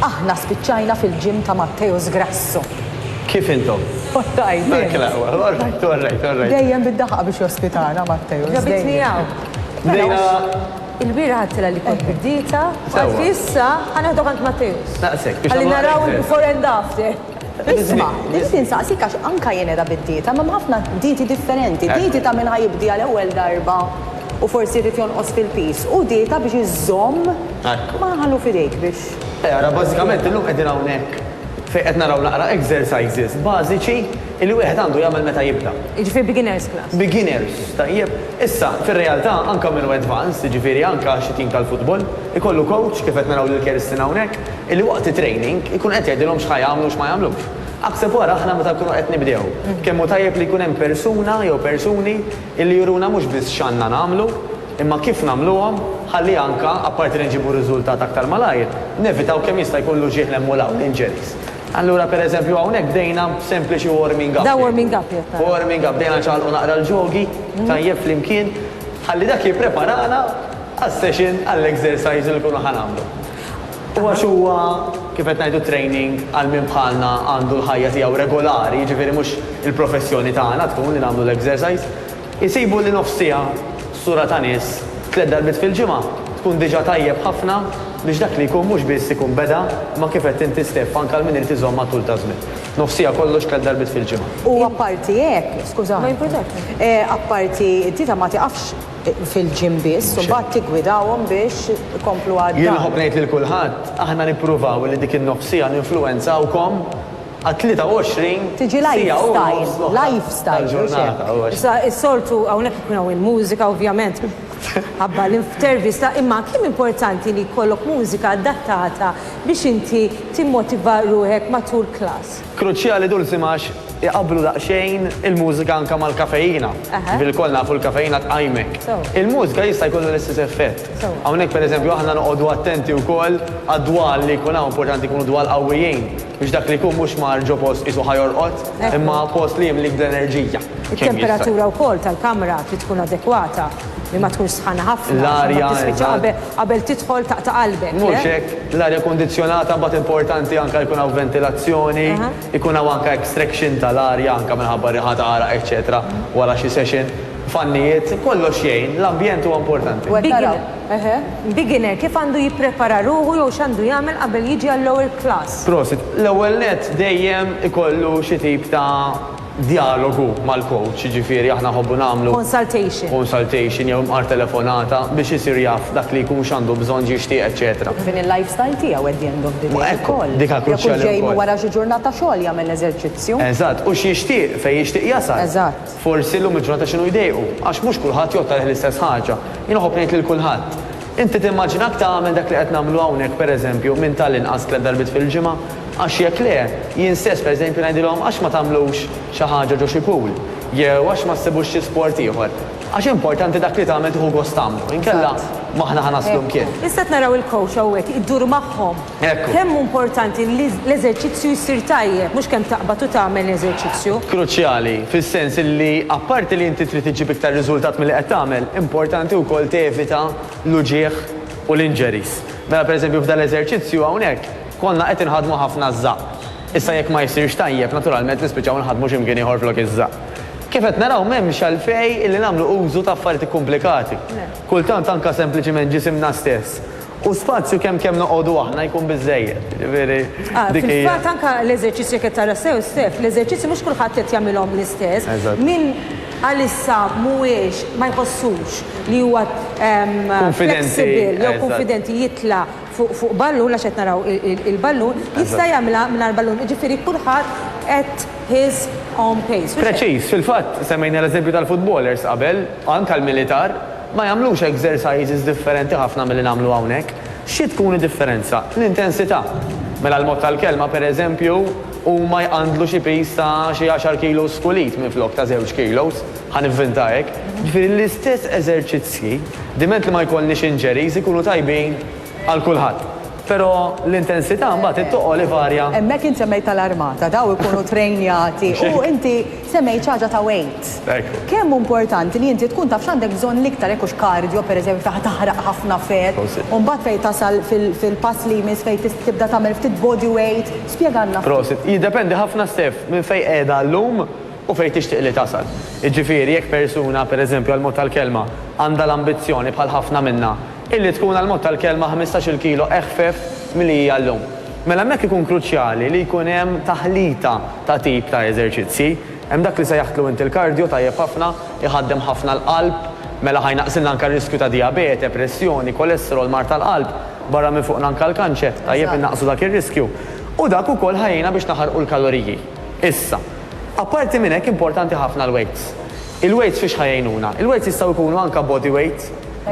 Aħna spiċċajna fil-gym ta' Matteus Grasso. Kif intom? Orrajt. Orrajt, orrajt, orrajt. Dejjem bid-daħqa biex jospitana Matteus. Ġabitni hawn. Bdejna Il-bieraħ għedtilha li kont bid-dieta, u għad fi issa ħa neħdok għand Matteus. Naqsek, biex nagħmlu naraw il-before and after. Isma', irrid insaqsik għax anke jien qiegħda bid-dieta, imma hemm ħafna dieti differenti. Dieti ta' min ħa jibdi għal ewwel darba u forsi jrid jonqos fil-piż, u dieta biex iżżomm ma ħallu f'idejk biex. Eh, ara bażikament illum qegħdin hawnhekk fejn qed naraw naqra exercises bażiċi li wieħed għandu jagħmel meta jibda. Jiġifieri beginners class. Beginners, tajjeb. Issa, fir-realtà, anke minu advanced, jiġifieri anke xi tim tal-futbol, ikollu coach, kif qed naraw lil Kerstin hawnhekk, illi waqt it-training ikun qed jgħidilhom x'ħa jagħmlu u x'ma jagħmlux. Aħseb wara aħna meta nkunu qed nibdew, kemm hu tajjeb li jkun hemm persuna jew persuni illi juruna mhux biss x'għandna nagħmlu, imma kif nagħmluhom ħalli anke, apparti li nġibu riżultat aktar malajr, nevitaw kemm jista' jkun l-uġigħ l-hemm u l-hawn, injuries. Allura per eżempju hawnhekk bdejna b'sempliċi warming up. Da warming up jgħid nara. Warming up, bdejna nċaqalqu naqra l-ġogi tajjeb flimkien ħalli dak jippreparana għas-session għall-exercise li nkunu ħa nagħmlu. U għax huwa kif qed ngħidu training għal min bħalna għandu l-ħajja tiegħu regolari, jiġifieri mhux il-professjoni tagħna tkun li nagħmlu l-exercise, Isibu li nofs siegħa sura ta' nies tliet darbiet fil-ġimgħa tkun diġà tajjeb ħafna biex dak li jkun mhux biss ikun beda imma kif għedt inti Steff anke għal min irid iżomm għat-tul ta' żmien. Nofs siegħa kollox tliet darbiet fil-ġimgħa. U apparti hekk, skużani, apparti t-tita ma tiqafx fil-gym biss, imbagħad tiggwidahom biex ikomplu għad-dar. Jien nħobb ngħid lil kulħadd, aħna nippruvaw li dik in-nofs siegħa ninfluwenzawkom, għat-23 siegħa u nofs l-oħra tal-ġurnata. Issa s-soltu hawnhekk ikun hawn il-mużika ovvjament ħabba l-intervista imma kemm importanti li jkollok mużika adattata biex inti timmotiva ruħek matul klass? Kruċjali Dulsim għax iqabblu daqsxejn il-mużika anke mal-kafeina. Ġifieri lkoll nafu l-kafeina tqajmek. Il-mużika jista' jkollha l-istess effett. Hawnhekk pereżempju aħna noqogħdu attenti wkoll għad-dwal li jkun hawn, importanti jkunu dwal qawwijin. Biex dak li jkun mhux mar ġo post qisu ħa jorqod, imma post li jimlik bl-enerġija. It-temperatura wkoll tal-kamra trid tkun adekwata, li ma tkunx sħana ħafna, għax imbagħad tispiċċa qabel qabel tidħol taqta' qalbek, le? Mhux hekk, l-arja kundizzjonata mbagħad importanti anke jkun hawn ventilazzjoni, jkun hawn anke extraction tal-arja anke minħabba riħa ta' għaraq eċċetera wara xi session. Fannijiet, kollox jgħin, l-ambjent huwa importanti. Beginner, kif għandu jipprepara ruħu jew x'għandu jagħmel qabel jiġi għall-ewwel klass? Prosit. L-ewwel nett dejjem ikollu xi tip ta' djalogu mal-coach, jiġifieri aħna nħobbu nagħmlu. Consultation. Consultation jew imqar telefonata biex isir jaf dak li jkun x'għandu bżonn, x'jixtieq, eċċetera. Kif inhi l-lifestyle tiegħu at the end of the day ukoll. Dik hija kruċjali wkoll. Jekk hux ġej minn wara xi ġurnata xogħol jagħmel eżerċizzju. Eżatt, u x'jixtieq, fejn jixtieq jasal. Eżatt. Forsi llum il-ġurnata x'inhu jdejqu, għax mhux kulħadd jgħodd għalih l-istess ħaġa. Jien iħobb ngħid lil kulħadd, Inti timmaġinak tagħmel dak li qed nagħmlu hawnhekk pereżempju minn tal-inqas tliet darbiet fil-ġimgħa? Għax jekk le, jien stess pereżempju ngħidilhom għax ma tagħmlux xi ħaġa ġo xi pool? Jew għax ma ssibux xi sport ieħor? Għax importanti dak li tagħmel tieħu gost tagħmlu, inkella m'aħna ħa naslu mkien. Issa qed naraw il-coach hawnhekk idur magħhom. Kemm hu importanti li l-eżerċizzju jsir tajjeb, mhux kemm taqbad u tagħmel eżerċizzju. Kruċjali, fis-sens li apparti li inti trid iġġib iktar riżultat milli qed tagħmel, importanti wkoll tevita l-uġigħ u l-injuries. Mela pereżempju f'dal-eżerċizzju hawnhekk konna qed inħaddmu ħafna ż-żaqq. Issa jekk ma jsirx tajjeb, naturalment nispiċċaw inħaddmu xi mkien ieħor flok iż-żaqq. Kif qed naraw m'hemmx għalfejn li nagħmlu użu ta' affarijiet ikkumplikati. Kultant anke sempliċiment ġisimna stess U spazju kemm kemm noqogħdu aħna jkun biżżejjed, jiġifieri dik hija. Fil-fatt anke l-eżerċizzji jekk qed tara sew Stef, l-eżerċizzji mhux kulħadd qed jagħmilhom l-istess. Min għalissa mhuwiex ma jħossux li huwa flexible jew kunfidenti jitla' fuq ballun għax qed naraw il-ballun, jista' jagħmilha mingħajr ballun. Jiġifieri kulħadd at his own pace. Preċiż, fil-fatt semmejna l-eżempju tal-footballers qabel, anke l-militar. Ma jagħmlux exercises differenti ħafna milli nagħmlu hawnhekk. Xi tkun id-differenza? L-intensità. Mela l-mod tal-kelma, per eżempju, huma jqandlu xi piż ta' xi għaxar kilos kull id minflok ta' żewġ kilos, ħa nivvinta hekk. Ġifieri l-istess eżerċizzji, diment li ma jkollniex injuries, ikunu tajbin. għal kulħadd. Però l-intensità mbagħad it-toqol ivarja. Hemmhekk int semmejt tal-armata, daw ikunu trejnjati u inti semmejt xi ħaġa ta' weight. Kemm hu importanti li inti tkun taf x'għandek bżonn l-iktar jekk hux cardio pereżempju fejn ħa taħraq ħafna fett u mbagħad fejn tasal fil-pass li jmiss fejn tibda tagħmel ftit body weight. Spjegalna ftit. Prosit. Jiddependi ħafna Steph minn fejn qiegħda llum u fejn tixtieq li tasal. Jiġifieri jekk persuna pereżempju għall-mod tal-kelma għandha l-ambizzjoni bħal ħafna minna Illi tkun għall-mod tal-kelma ħmistax-il kilo eħfef milli hija llum. Mela hemmhekk ikun kruċjali li jkun hemm taħlita ta' tip ta' eżerċizzji. Hemm dak li sejjaħtlu int il-kardjo, tajjeb ħafna, iħaddem ħafna l-qalb, mela ħa jnaqqsilna anke r-riskju ta' dijabete, pressjoni, kolesterol, mard tal-qalb, barra minn fuqna anke l-kanċer, tajjeb innaqqsu dak ir-riskju. U dak ukoll ħa jgħinna biex naħarqu l-kaloriji. Issa, apparti minn hekk importanti ħafna l-weights. Il-weights fiex ħa jgħinuna? Il-weights jistgħu jkunu anke bodyweight,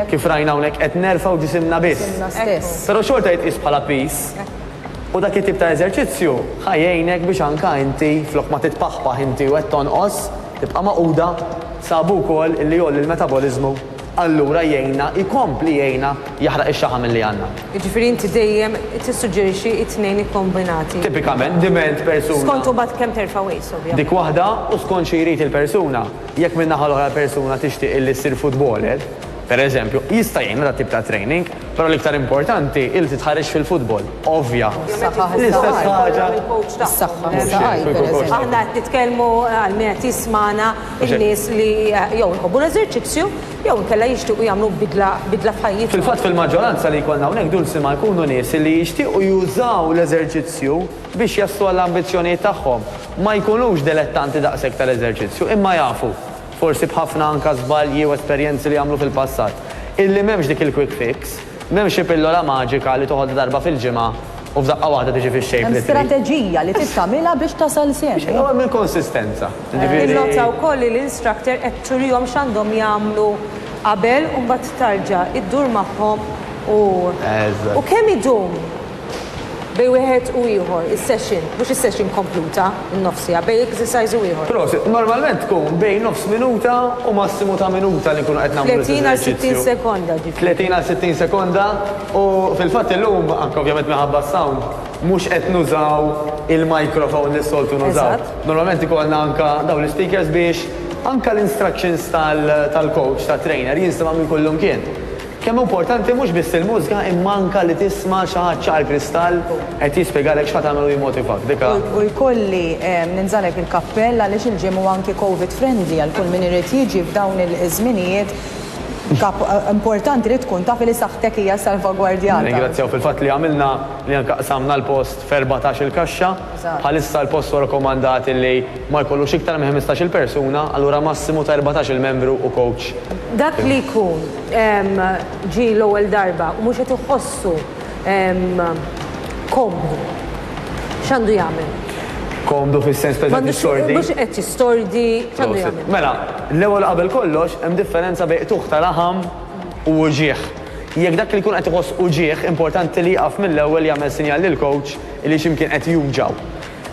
Kif rajna hawnhekk qed nerfgħu ġisimna biss. Però xorta jitqies bħala piż. U dak it-tip ta' eżerċizzju ħa jgħinek biex anka inti flok ma titpaħpaħ inti u qed tonqos, tibqa' magħquda, sabu wkoll illi jgħolli l-metaboliżmu, allura jgħinna, jkompli jgħinna jaħraq ix-xaħam illi għandna. Jiġifieri inti dejjem tissuġġerixxi t-tnejn ikkombinati. Tipikament diment persuna. Skont imbagħad kemm terfa' weights ovvjament. Dik waħda u skont xi jrid il-persuna. Jekk min-naħa l-oħra l-persuna tixtieq illi ssir futboler, per eżempju, jista' jgħinha dat tip ta' training, però l-iktar importanti hi li titħarreġ fil-futbol, ovvja. Is-saħħa L-istess ħaġa. Is-saħħa hi s-saqajn, per eżempju. Aħna qed nitkellmu għal min qed jismagħna, in-nies li jew iħobbu l-eżerċizzju jew inkella jixtiequ jagħmlu bidla, bidla f'ħajjithom. Fil-fatt fil-maġġoranza li jkollna hawnhekk dulsima jkunu nies illi jixtiequ jużaw l-eżerċizzju. biex jaslu għall-ambizzjonijiet tagħhom, ma jkunux delettanti daqshekk tal-eżerċizzju, imma jafu, forsi b'ħafna anka żbalji u esperjenzi li għamlu fil-passat, illi m'hemmx dik il-quick fix, m'hemm xi pillola maġika li toħodha darba fil-ġimgħa u f'daqqa waħda tiġi fix-shape li trid. Hemm strateġija li trid tagħmilha biex tasal semmie. Biex hemm il-konsistenza, jiġifieri. Innota wkoll li l-instructor qed turihom x'għandhom jagħmlu qabel u mbagħad tarġa' iddur magħhom u. Eżatt. U kemm idum? Bejn wieħed u ieħor, is-session, mhux is-session kompluta, in-nofs siegħa, bejn exercise u ieħor. Prosit. Normalment tkun bejn nofs minuta u massimu ta' minuta li nkunu qed nagħmlu l-istess eżerċizzju. 30 għal 60 sekonda ġifieri. 30 għal 60 sekonda u fil-fatt illum, anke ovvjament minħabba s-sound, mhux qed nużaw il-microphone li s-soltu nużaw. Eżatt. Normalment ikollna anke dawn l-ispeakers biex anke l-instructions tal-coach, tat-trainer, jinstemgħu minn kull imkien. Kemm hu importanti mhux biss il-mużika imma anke li tisma' xi ħadd ċar kristall qed jispjegalek x'ħa tagħmel u jimmotivak. Dik a. U jkolli ninżagħlek il-kappell għaliex il-gym hu anki Covid friendly għal kull min irid jiġi f'dawn iż-żminijiet kap importanti li tkun taf li saħħtek hija salvagwardjata. Nirringrazzjaw fil-fatt li għamilna li anke qsamna l-post f'erbatax-il kaxxa. Bħalissa l-post huwa rakkomandat li ma jkollux iktar minn ħmistax-il persuna, allura massimu ta' erbatax-il membru u coach. Dak li jkun. ġie l-ewwel darba u mhux qed iħossu komdu, x'għandu jagħmel? Komdu fis-sens fejn qed jistordi? Mhux qed jistordi, x'għandu jagħmel? Mela, l-ewwel u qabel kollox hemm differenza bejn qtugħ ta' laħam u uġigħ. Jekk dak li jkun qed iħoss uġigħ, importanti li jieqaf mill-ewwel jagħmel sinjal lill-kowċ li xi mkien qed juġgħu.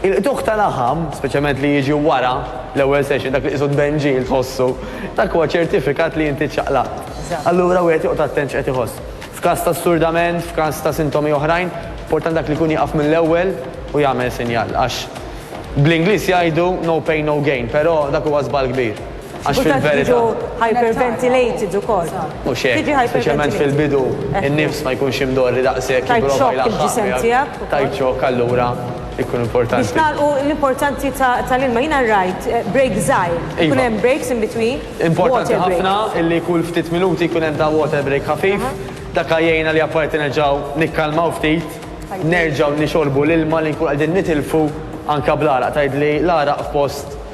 Il-qtugħ ta' laħam, speċjalment li jiġi wara l-ewwel session, dak li qisu tbenġil tħossu, dak huwa ċertifikat li inti ċċaqlaqt. Allura wieħed joqgħod attent x'qed iħoss. F'każ ta' sturdament, f'każ ta' sintomi oħrajn, importanti dak li jkun jieqaf mill-ewwel u jagħmel sinjal għax bl-Ingliż jgħidu no pain no gain, però dak huwa żball kbir. Għax fil-verità. Hyperventilated ukoll. U xejn. Tiġi hyperventilated. Speċjalment fil-bidu, in-nifs ma jkunx imdorri daqshekk. Tajt xokk il-ġisem tiegħek. Tajt xokk allura jkun importanti. Biex nagħlqu l-importanzi tal-ilma, jiena rajt break żgħir. Ikun hemm breaks in between. Importanti ħafna li kull ftit minuti jkun hemm ta' water break ħafif. Dak jgħinna li apparti nerġgħu nikkalmaw ftit, nerġgħu nixorbu l-ilma li nkunu qegħdin nitilfu anke bl-għaraq. Tgħidli l-għaraq f'post.